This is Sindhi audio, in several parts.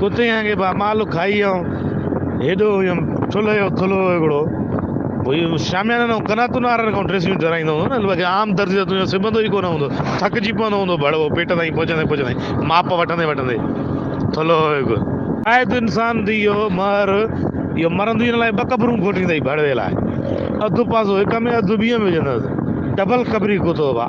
ڪتيان کي به امالو کائي آئون هيڏو هيم ٺلهه جو ٿلهو هيڪڙو ڀوئي شاميانا نو قناتون آرڙ کان ڊريسيون چورائيندو هوندو نه باقي عام درزي ته تنهنجو سبندو ئي ڪونه هوندو ٿڪجي پوندو هوندو ڀڙوو پيٽ تائين پهچندي پهچندي ماپ وٺندي وٺندي ٿلهو هيڪ شايد انسان ڌي اهو مهر اهو مرندي ان لاء ٻه قبرون کوٽيندئي ڀڙوي لاء اڌ پاسو هڪ ۾ اڌ ٻي ۾ وجهندس ڊبل قبري ڪتو ڀا.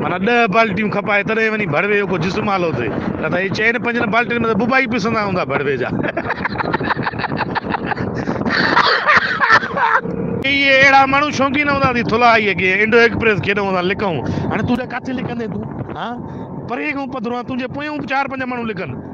معنيٰ ڏهه بالٽيون کپائي تڏهن وڃي ڀڙوي جو ڪو جسم آلو ٿئي، نه ته اهي چئن پنجن بالٽين ۾ ته ٻٻا ئي پسندا هوندا ڀڙوي جا. ڪيئي اهڙا ماڻهو شوقين هوندا ته ٿلهائيء کي انڊو ايڪپريس کيڏ هوندا لڪئون. هاڻي تون ٻيا ڪاٿي لڪندين تون؟ ها! پرينء کان پڌرو آهن، تنهنجي پويان چار پنج ماڻهو لڪن.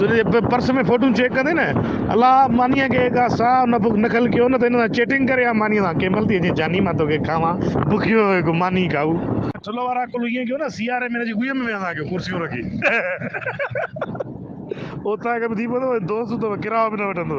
تنهنجي پرس ۾ فوٽون چيڪ ڪندي نه الا مانيء کي ڪا ساهه نه بک نه کل ڪيو نه ته هن سان چيٽنگ ڪري ها مانيء سان ڪنهن مهل ٿي اچين جاني مان توکي کاوان بکيو هڪ ماني کائو. ٺلهه وارا ڪل ائين ڪيو نه سياري ۾ هن جي ڳويء ۾ ويهندا ڪيو ڪرسيون رکي اوطاق به ٿي پوندو ۽ دوست به ڪرايو به نه وٺندو.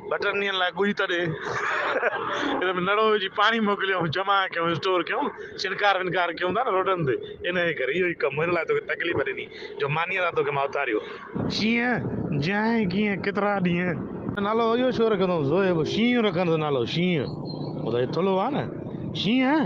ٻٽن ڏينهن لاء ڳجهه تڏي ان ۾ نڙو وجهي پاڻي موڪليون جمع ڪيون اسٽور ڪيون ڇڻڪار ونڪار ڪيون ٿا نه روڊن تي انهيء ڪري اهو ئي ڪم هن لاء توکي تڪليف ڏني جو مانيء لاء توکي مان اٿاريو. شينهن جيائين ڪيئن ڪيترا ڏينهن. نالو اهو ڇو رکيو اٿئون زوئي شينهن رکڻ جو نالو شينهن هو ته ٿلهو آهي نه شينهن.